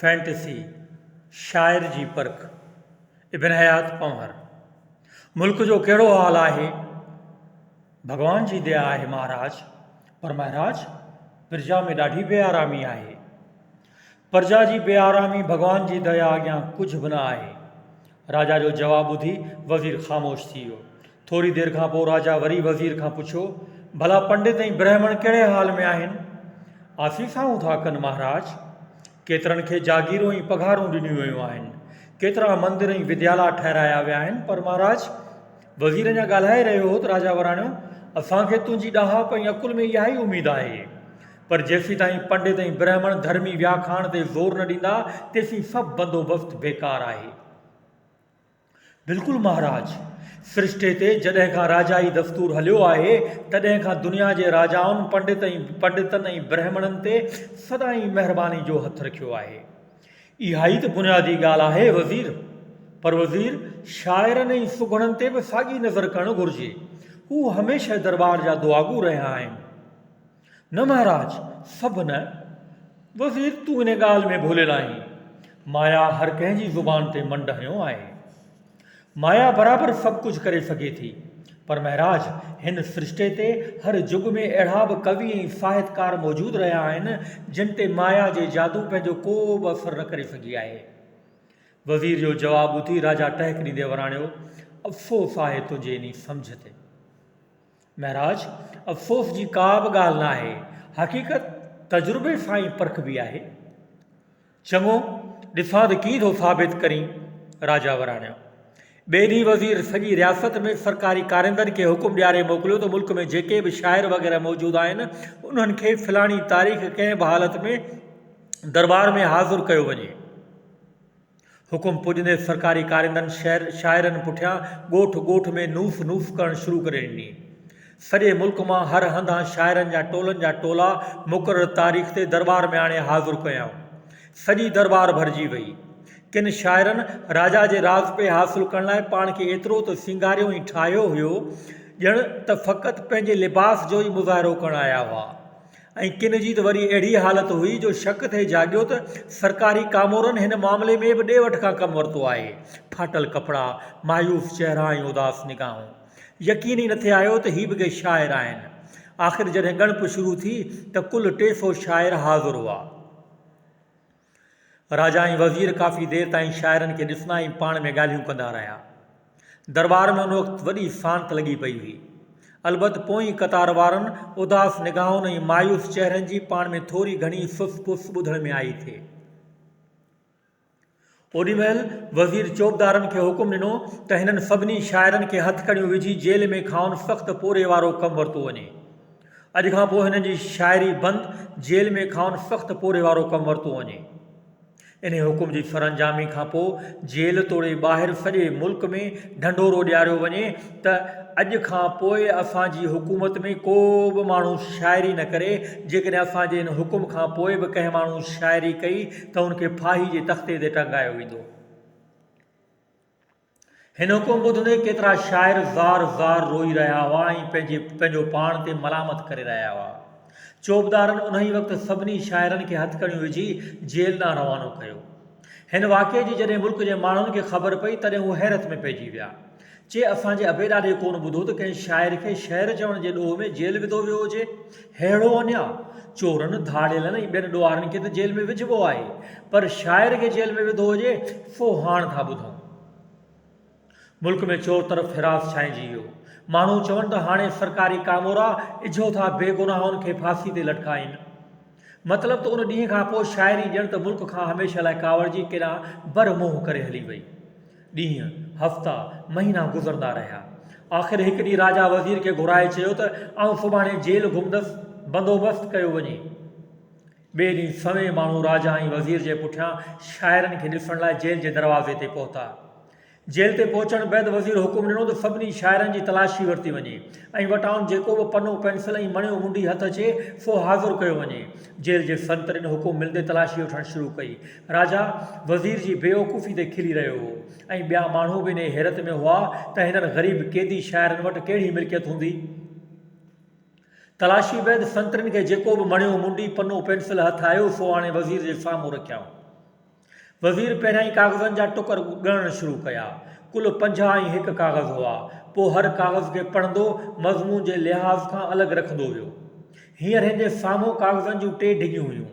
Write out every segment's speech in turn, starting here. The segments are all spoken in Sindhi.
فينٽسي شاعر جي پرک ابن حيات پنهور ملڪ جو ڪهڙو حال آهي ڀڳوان جي ديا آهي مهاراج پر مهراج پرجا ۾ ڏاڍي بي آرامي آهي پرجا جي بي آرامي ڀڳوان جي ديا اڳيان ڪجهه به نه آهي راجا جو جواب ٻڌي وزير خاموش ٿي ويو. ٿوري دير کان پوء راجا وري وزير کان پڇيو، ڀلا پنڊت ۽ برهمڻ ڪهڙي حال ۾ آهن؟ آسيسائون ٿا ڪن مهاراج. ڪيترن کي جاگيرون ۽ پگهارون ڏنيون ويون آهن. ڪيترا مندر ۽ وديالا ٺهرايا ويا آهن، پر مهاراج. وزير اڃا ڳالهائي رهيو هو ته راجا وراڻيو، اسان کي تنهنجي ڏاهپ ۽ عقل ۾ اها ئي اميد آهي. پر جيسيتائين پنڊت ۽ برهمڻ ڌرمي وياکاڻ تي زور نه ڏيندا تيسين سڀ بندوبست بيڪار آهي. بلڪل مهاراج. سرشتي تي جڏهن کان راجائي دستور هليو آهي تڏهن کان دنيا جي راجائن پنڊت ۽ پنڊتن ۽ برهمڻن تي سدائين مهرباني جو هٿ رکيو آهي. اهائي ته بنيادي ڳالهه آهي وزير. پر وزير شاعرن ۽ سگهڙن تي به ساڳي نظر ڪرڻ گهرجي. هو هميشه درٻار جا دعاگو رهيا آهن. نه مهاراج، سڀ نه. وزير تون ان ڳالهه ۾ ڀوليل آهين. مايا هر ڪنهن جي زبان تي منڊ هنيو آهي. مايا برابر سڀ ڪجهه ڪري سگهي ٿي. پر مهاراج، هن سرشتي تي هر جڳ ۾ اهڙا به ڪوي ۽ ساهتڪار موجود رهيا آهن، جن تي مايا جي جادو پنهنجو ڪو به اثر نه ڪري سگهي آهي. وزير جو جواب ٻڌي راجا ٽهڪ ڏيندي وراڻيو، افسوس آهي تنهنجي انهي سمجهه تي. معراج، افسوس جي ڪا به ڳالهه نه آهي. حقيقت تجربي سان ئي پرکبي آهي. چڱو، ڏسان ته ڪيئن ٿو ثابت ڪرين. راجا وراڻيو. ٻئي ڏينهن وزير سڄي رياست ۾ سرڪاري ڪاريندن کي حڪم ڏياري موڪليو ته ملڪ ۾ جيڪي به شاعر وغيره موجود آهن، انهن کي فلاڻي تاريخ ڪنهن به حالت ۾ درٻار ۾ حاضر ڪيو وڃي. حڪم پڄندي سرڪاري ڪارندن شهر شاعرن پٺيان ڳوٺ ڳوٺ ۾ نوس نوس ڪرڻ شروع ڪري ڏني. سڄي ملڪ مان هر هنڌان شاعرن جا ٽولن جا ٽولا مقرر تاريخ تي درٻار ۾ آڻي حاضر ڪيائون. سڄي درٻار ڀرجي وئي. ڪن شاعرن راجا جي راز پئي حاصل ڪرڻ لاء پاڻ کي ايترو ته سينگاريو ۽ ٺاهيو هيو ڄڻ ته فقط پنهنجي لباس جو ئي مظاهرو ڪرڻ آيا هئا. ۽ ڪن جي ته وري اهڙي حالت هئي جو شڪ ٿي جاڳيو ته سرڪاري ڪامورن هن معاملي ۾ به ڏي وٺ کان ڪم ورتو آهي. ڦاٽل ڪپڙا، مايوس چهرا ۽ اداس نگاهون. يقين ئي نٿي آيو ته هي به ڪي شاعر آهن. آخر جڏهن ڳڻپ شروع ٿي ته ڪل ٽي سو شاعر حاضر هئا. راجا ۽ وزير ڪافي دير تائين شاعرن کي ڏسندا ۽ پاڻ ۾ ڳالهيون ڪندا رهيا. درٻار ۾ ان وقت وڏي سانت لڳي پئي هئي. البت پوئين قطار وارن اداس نگاهن ۽ مايوس چهرن جي پاڻ ۾ ٿوري گهڻي سس پس ٻڌڻ ۾ آئي ٿي. اوڏي مهل وزير چوبدارن کي حڪم ڏنو ته هنن سڀني شاعرن کي هٿڪڙيون وجهي جيل ۾ کانئن سخت پورهئي وارو ڪم ورتو وڃي. اڄ کان پوء هنن جي شاعري بند جيل ۾ کانئن سخت پورهيي وارو ڪم ورتو وڃي. انهي حڪم جي سرانجامي کان پوء جيل توڙي ٻاهر سڄي ملڪ ۾ ڍنڍورو ڏياريو وڃي ته اڄ کان پوء اسان جي حڪومت ۾ ڪو به ماڻهو شاعري نه ڪري، جيڪڏهن اسان جي ان حڪم کان پوء به ڪنهن ماڻهو شاعري ڪئي ته ان کي ڦاهي جي تختي تي ٽنگايو ويندو. هن حڪم ٻڌ هوندي ڪيترا شاعر زار زار روئي رهيا هئا ۽ پنهنجي پنهنجو پاڻ تي ملامت ڪري رهيا هئا. چوبدارن انهيء وقت سڀني شاعرن کي هٿڪڙيون وجهي جيل ڏانهن روانو ڪيو. هن واقعي جي جڏهن ملڪ جي ماڻهن کي خبر پئي تڏهن هو حيرت ۾ پئجي ويا. چي اسان جي ابي ڏاڏي ڪونه ٻڌو ته ڪنهن شاعر کي شعر چوڻ جي ڏوهه ۾ جيل وڌو ويو هجي. ههڙو اڃا چورن، ڌاڙيلن ۽ ٻين ڏوهارين کي ته جيل ۾ وجهبو آهي، پر شاعر کي جيل ۾ وڌو هجي، سو هاڻ ٿا ٻڌون. ملڪ ۾ چور طرف حراس ڇائنجي ويو. ماڻهو چون ته هاڻي سرڪاري ڪامورا اجهو ٿا بي گناهن کي ڦاسي تي لٽڪائين. مطلب ته ان ڏينهن کان پوء شاعري ڄڻ ته ملڪ کان هميشه لاء ڪاوڙجي ڪيڏانهن بر منهن ڪري هلي وئي. ڏينهن، هفتا، مهينا گذرندا رهيا. آخر هڪ ڏينهن راجا وزير کي گهرائي چيو ته آئون سڀاڻي جيل گهمندس، بندوبست ڪيو وڃي. ٻئي ڏينهن سوين ماڻهو راجا ۽ وزير جي پٺيان شاعرن کي ڏسڻ لاء جيل جي دروازي تي پهتا. جيل تي پهچڻ بعد وزير حڪم ڏنو ته سڀني شاعرن جي تلاشي ورتي وڃي ۽ وٽان جيڪو به پنو پينسل ۽ مڻيو منڊي هٿ اچي سو حاضر ڪيو وڃي. جيل جي سنترين حڪم ملندي تلاشي وٺڻ شروع ڪئي. راجا وزير جي بيوقوفي تي کلي رهيو هو ۽ ٻيا ماڻهو به انهيء حيرت ۾ هئا ته هنن غريب قيدي شاعرن وٽ ڪهڙي ملڪيت هوندي. تلاشي بعد سنترين کي جيڪو به مڻيو منڊي، پنو، پينسل هٿ آيو سو آڻي وزير جي سامهون رکيائون. وزير پهريائين ڪاغذن جا ٽڪر ڳڻڻ شروع ڪيا. ڪل پنجاهه ۽ هڪ ڪاغذ هئا. پوء هر ڪاغذ کي پڙهندو، مضمون جي لحاظ کان الڳ رکندو ويو. هينئر هن جي سامهون ڪاغذن جون ٽي ڍڳيون هيون.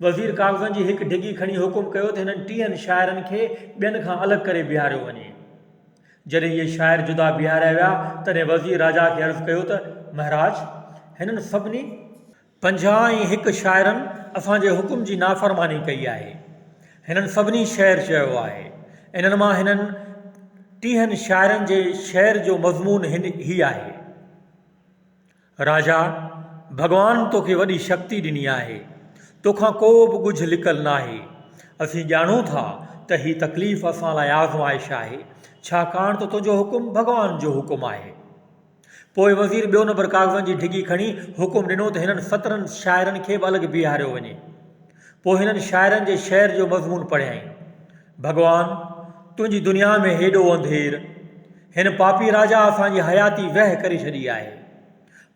وزير ڪاغذن جي هڪ ڍڳي کڻي حڪم ڪيو ته هنن ٽيهن شاعرن کي ٻين کان الڳ ڪري بيهاريو وڃي. جڏهن اهي شاعر جدا بيهاريا ويا، تڏهن وزير راجا کي عرض ڪيو ته مهراج! هنن سڀني. پنجاهه ۽ هڪ شاعرن اسان جي حڪم جي نافرماني ڪئي آهي. هنن سڀني شعر چيو آهي. انهن مان هنن ٽيهن شاعرن جي شعر جو مضمون هي آهي. راجا، ڀڳوان توکي وڏي شڪتي ڏني آهي. توکان ڪو به ڳجهه لڪل ناهي. اسين ڄاڻون ٿا ته هي تڪليف اسان لاء آزمائش آهي، ڇاڪاڻ ته تنهنجو حڪم ڀڳوان جو حڪم آهي. پوء وزير ٻيو نمبر ڪاغذن جي ڍڳي کڻي حڪم ڏنو ته هنن سترهن شاعرن کي به الڳ بيهاريو وڃي. پوء هنن شاعرن جي شعر جو مضمون پڙهيائين. ڀڳوان! تنهنجي دنيا ۾ هيڏو انڌير، هن پاپي راجا اسان جي حياتي ويهه ڪري ڇڏي آهي.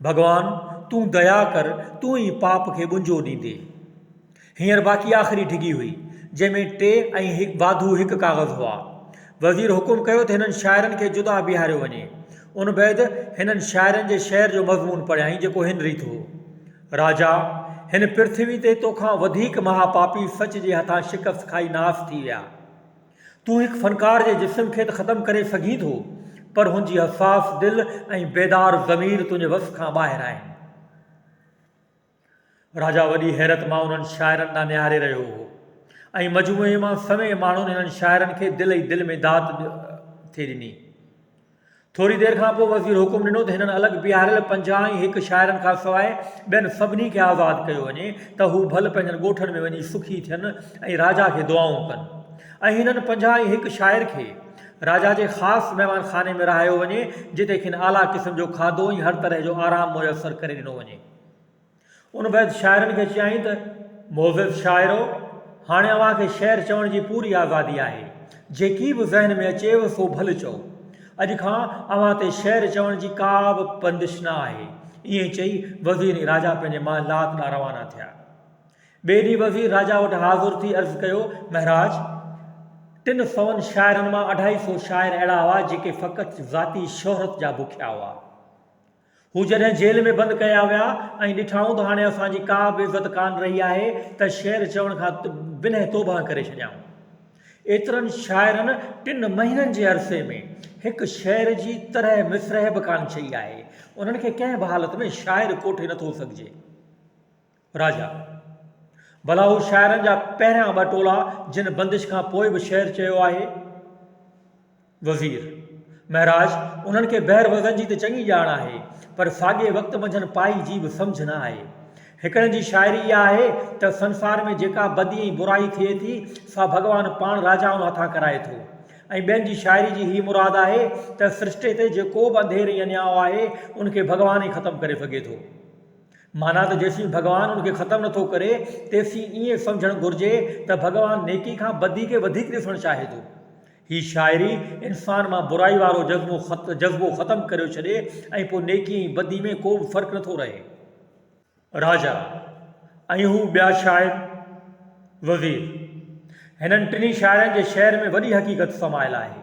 ڀڳوان! تون ديا ڪر، تون ئي پاپ کي ٻنجو ڏيندي. هينئر باقي آخري ڍڳي هئي، جنهن ۾ ٽي ۽ واڌو هڪ ڪاغذ هئا. وزير حڪم ڪيو ته هنن شاعرن کي جدا بيهاريو وڃي. ان بعد هنن شاعرن جي شعر جو مضمون پڙهيائين، جيڪو هن ريت هو. راجا، هن پرٿوي تي تو کان وڌيڪ مها پاپي سچ جي هٿان شڪست کائي ناس ٿي ويا. تون هڪ فنڪار جي جسم کي ته ختم ڪري سگهين ٿو، پر هن جي حساس دل ۽ بيدار ضمير تنهنجي وس کان ٻاهر آهن. راجا وڏي حيرت مان انهن شاعرن ڏانهن نهاري رهيو هو ۽ مجموعي مان سوين ماڻهن هنن شاعرن کي دل ئي دل ۾ داد ٿي ڏني. ٿوري دير کان پوء وزير حڪم ڏنو ته هنن الڳ بيهاريل پنجاهه ۽ هڪ شاعرن کان سواء ٻين سڀني کي آزاد ڪيو وڃي ته هو ڀل پنهنجن ڳوٺن ۾ وڃي سکي ٿين ۽ راجا کي دعائون ڪن ۽ هنن پنجاهه ۽ هڪ شاعر کي راجا جي خاص مهمان خاني ۾ رهايو وڃي جتي کين اعليٰ قسم جو کاڌو ۽ هر طرح جو آرام ميسر ڪري ڏنو وڃي. ان بعد شاعرن کي چيائين ته، معزز شاعرو! هاڻي اوهان کي شعر چوڻ جي پوري آزادي آهي. جيڪي به ذهن ۾ اچيو سو ڀل چئو. اڄ کان اوهان تي شعر چوڻ جي ڪا به بندش نه آهي. ائين چئي وزير ۽ راجا پنهنجي مان لات ڏانهن روانا ٿيا. ٻئي ڏينهن وزير راجا وٽ حاضر ٿي عرض ڪيو، مهراج! ٽن سون شاعرن مان اڍائي سو شاعر اهڙا هئا جيڪي فقط ذاتي شهرت جا بکيا هئا. هو جڏهن جيل ۾ بند ڪيا ويا ۽ ڏٺائون ته هاڻي اسان جي ڪا به عزت ڪانه رهي آهي ته شعر چوڻ کان بنهه توبهه ڪري ڇڏيائون. ايترن شاعرن ٽن مهينن جي عرصي ۾ هڪ شعر جي ترهه مصرح به ڪانه چئي آهي. انهن کي ڪنهن به حالت ۾ شاعر ڪوٺي نٿو سگهجي. راجا، ڀلا هو شاعرن جا پهريان ٻه ٽولا جن بندش کان پوء به شعر چيو آهي؟ وزير، مهراج انهن کي بحر وزن جي ته چڱي ڄاڻ آهي، پر ساڳئي وقت منجهن پائي جي به سمجهه نه آهي. هڪڙن جي شاعري اها آهي ته سنسار ۾ جيڪا بدي ۽ برائي ٿئي ٿي سا ڀڳوان پاڻ راجائن هٿان ڪرائي ٿو ۽ ٻين جي شاعري جي هيء مراد آهي ته سرشٽي تي جيڪو به انڌير ۽ اڃايو آهي ان کي ڀڳوان ئي ختم ڪري سگهي ٿو. معنيٰ ته جيسين ڀڳوان ان کي ختم نٿو ڪري تيسين ائين سمجهڻ گهرجي ته ڀڳوان نيڪي کان بدي کي وڌيڪ ڏسڻ چاهي ٿو. هي شاعري انسان مان برائي وارو جذبو ختم ڪريو ڇڏي ۽ پوء نيڪي ۽ بدي ۾ ڪو به فرق نٿو رهي. راجا ۽ هو ٻيا شاعر وزير هنن ٽنهي شاعرن جي شعر ۾ وڏي حقيقت سمايل آهي.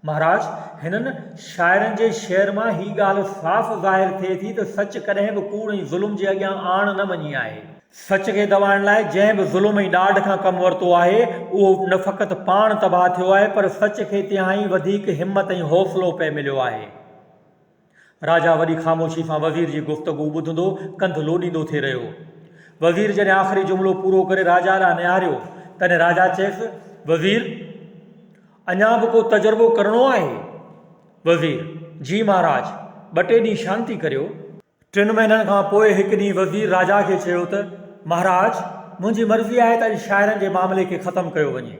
مهاراج، هنن شاعرن جي شعر مان هي ڳالهه صاف ظاهر ٿئي ٿي ته سچ ڪڏهن به ڪوڙ ۽ ظلم جي اڳيان آڻ نه مڃي آهي. سچ کي دٻائڻ لاء جنهن به ظلم ۽ ڏاڍ کان ڪم ورتو آهي، اهو نه فقط پاڻ تباهه ٿيو آهي، پر سچ کي تهائين وڌيڪ همت ۽ حوصلو پئي مليو آهي. راجا وڏي خاموشي سان وزير جي گفتگو ٻڌندو ڪنڌ لوڏيندو ٿي رهيو. وزير جڏهن آخري جملو پورو ڪري راجا ڏانهن نهاريو تڏهن راجا چيس، وزير! اڃا به ڪو تجربو ڪرڻو آهي؟ وزير، جي مهاراج! ٻه ٽي ڏينهن شانتي ڪريو. ٽن مهينن کان پوء هڪ ڏينهن وزير راجا کي چيو ته، مهاراج! منهنجي مرضي آهي ته اڄ شاعرن جي معاملي کي ختم ڪيو وڃي.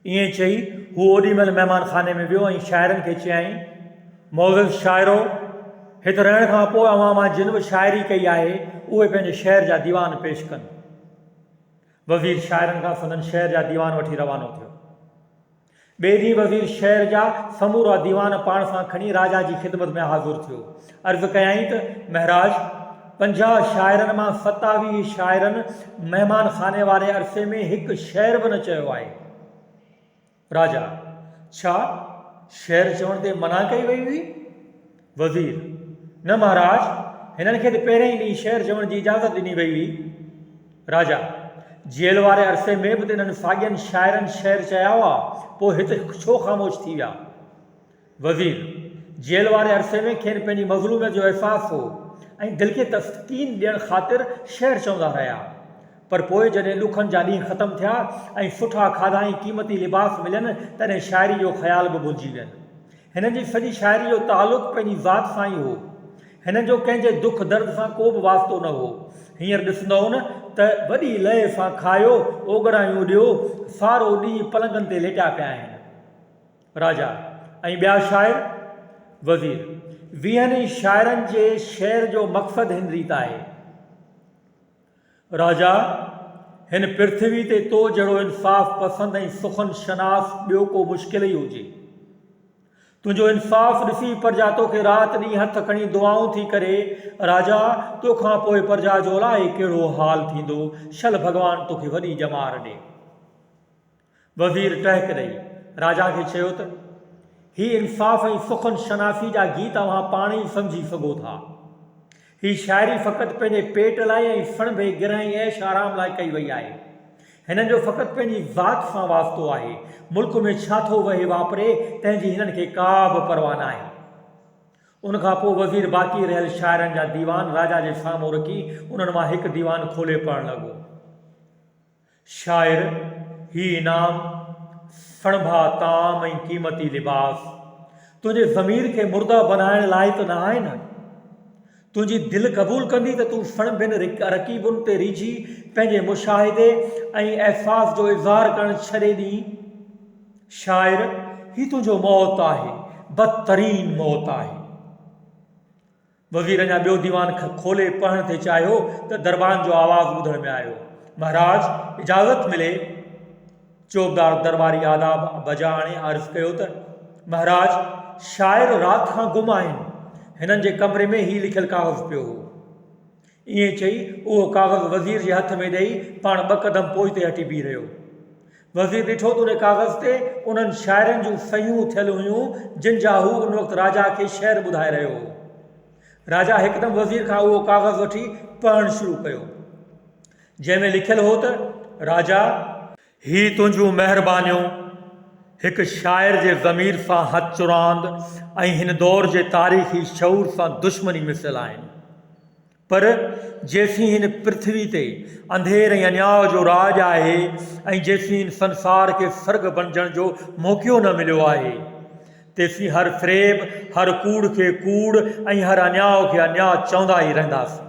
ائين چئي هو اوڏي مهل مهمان خاني ۾ ويو ۽ شاعرن کي چيائين، معزز شاعرو! هت رهڻ کان پوء اوهان مان جن به شاعري ڪئي آهي، اهي پنهنجي شهر جا ديوان پيش ڪن. وزير شاعرن کان سندن شهر جا ديوان وٺي روانو ٿيو. ٻئي ڏينهن وزير شهر جا سمورا ديوان پاڻ سان کڻي راجا جي خدمت ۾ حاضر ٿيو. عرض ڪيائين ته مهراج پنجاهه شاعرن مان ستاويهه شاعرن مهمان خاني واري عرصي ۾ هڪ شعر به نه چيو آهي. راجا، ڇا شعر چوڻ تي منع ڪئي وئي هئي؟ وزير، نه مهراج، هنن کي ته پهرئين ئي ڏينهن شعر چوڻ جي اجازت ڏني وئي هئي. راجا، جيل واري عرصي ۾ به ته انهن ساڳين شاعرن شعر چيا هئا، پوء هت ڇو خاموش ٿي ويا؟ وزير، جيل واري عرصي ۾ کين پنهنجي مظلوميت جو احساس هو ۽ دل کي تسڪين ڏيڻ خاطر شعر چوندا رهيا. پر پوء جڏهن ڏکن جا ڏينهن ختم ٿيا ۽ سٺا کاڌا ۽ قيمتي لباس ملين تڏهن شاعري جو خيال به ڀلجي وين. هنن جي سڄي شاعري جو تعلق پنهنجي ذات سان ئي هو. هنن جو ڪنهن جي دک درد سان ڪو به واسطو نه هو. هينئر ڏسندؤن ته وڏي لئي سان کايو، اوڳڙايون اڏيو، سارو ڏينهن پلنگن تي ليٽيا پيا آهن. راجا ۽ ٻيا شاعر، وزير، ويهن ئي شاعرن جي شعر جو مقصد هن ريت آهي. راجا، هن پرٿوي تي تو جهڙو انصاف پسند ۽ سخن شناس ٻيو ڪو مشڪل ئي هجي. تنهنجو انصاف ڏسي پرجا توکي رات ڏينهن هٿ کڻي دعائون ٿي ڪري. راجا، تو کان پوء پرجا جو الائي ڪهڙو حال ٿيندو. شل ڀڳوان توکي وڏي ڄمار ڏي. وزير ٽهڪ ڏئي راجا کي چيو ته، هي انصاف ۽ سخن شناسي جا گيت اوهان پاڻ ئي سمجهي سگهو ٿا. هي شاعري فقط پنهنجي پيٽ لاء ۽ سڻڀي گرهه ۽ عيش آرام لاء ڪئي وئي آهي. هنن جو فقط پنهنجي ذات سان واسطو آهي. ملڪ ۾ ڇا ٿو وهي واپري، تنهن جي هنن کي ڪا به پرواهه ناهي. ان کان پوء وزير باقي رهيل شاعرن جا ديوان راجا جي سامهون رکي، انهن مان هڪ ديوان کولي پڙهڻ لڳو. شاعر، هي انعام، سڻڀا طعام ۽ قيمتي لباس، تنهنجي ضمير کي مرده بنائڻ لاء ته نه آهن. تنهنجي دل قبول ڪندي ته تون سڻڀين رڪيبن تي ريجهي پنهنجي مشاهدي ۽ احساس جو اظهار ڪرڻ ڇڏي ڏينء؟ شاعر، هي تنهنجو موت آهي، بدترين موت آهي. وزير اڃا ٻيو ديوان کولي پڙهڻ ٿي چاهيو ته دربان جو آواز ٻڌڻ ۾ آيو، مهراج! اجازت ملي. چوبدار درباري آداب بجا آڻي عرض ڪيو ته، مهراج! شاعر رات کان گم آهن. هنن جي ڪمري ۾ هي لکيل ڪاغذ پيو هو. ائين چئي اهو ڪاغذ وزير جي هٿ ۾ ڏئي پاڻ ٻه قدم پوئتي هٽي بيهي رهيو. وزير ڏٺو ته ان ڪاغذ تي انهن شاعرن جون صحيحون ٿيل هيون جن جا هو ان وقت راجا کي شعر ٻڌائي رهيو هو. راجا هڪدم وزير کان اهو ڪاغذ وٺي پڙهڻ شروع ڪيو. جنهن ۾ لکيل هو ته، راجا! هي تنهنجون مهربانيون هڪ شاعر جي ضمير سان هٿ چراند ۽ هن دور جي تاريخي شعور سان دشمني مثل آهن. پر جيسين هن پرٿوي تي انڌير ۽ اڃاء جو راڄ آهي ۽ جيسين هن سنسار کي سرڳ بڻجڻ جو موقعو نه مليو آهي، تيسين هر فريب، هر ڪوڙ کي ڪوڙ ۽ هر اڃاء کي اڃاء چوندا ئي رهنداسين.